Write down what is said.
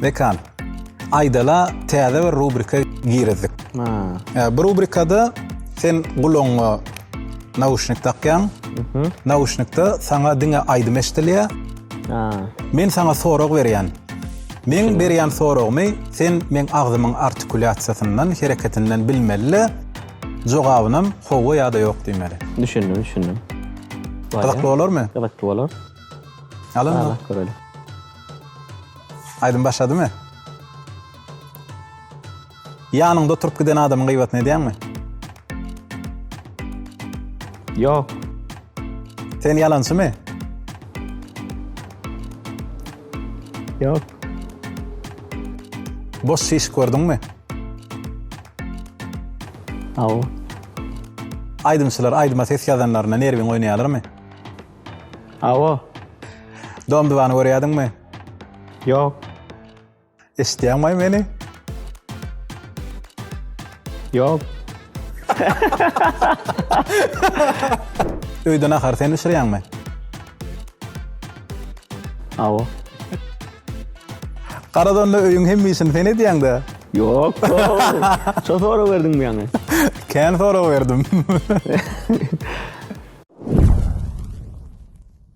Mekan. Aydala täze bir rubrika girizdik. Ha. Bu rubrikada sen gulagyňa nauşnik takýaň. Mhm. Nauşnikde sana diňe aýdym eşdilýär. Ha. Men sana sorag berýän. Meň berýän soragymy sen meň agzymyň artikulýasiýasyndan, hereketinden bilmeli-de, jogabynam howwa ýa-da ýok diýmeli. Düşündim, düşündim. Gyzykly bolarmy? Gyzykly bolar. Al onda. Garaşyp göreli. Aýdym başladymy? Ýanyňda oturyp giden adamyň gyýbatyny edýäňmi? Ýok. Sen ýalançymy? Ýok. Boş şiş gördüňmi? Hawa. Aýdymçylar aýdyma ses ýazanlarynda nerwiň oýnaýarlarmy? Hawa. Dom-dubany görýärdiňmi? Ýok. Eşitýäňmi meni? Ýok. Öýde nahar sen bişirýäňmi? Awa. Garadonda öýüň hemme işini sen edýäň-de. Ýok. Şo sorag berdiňmi ýaňy? Kän sorag berdim.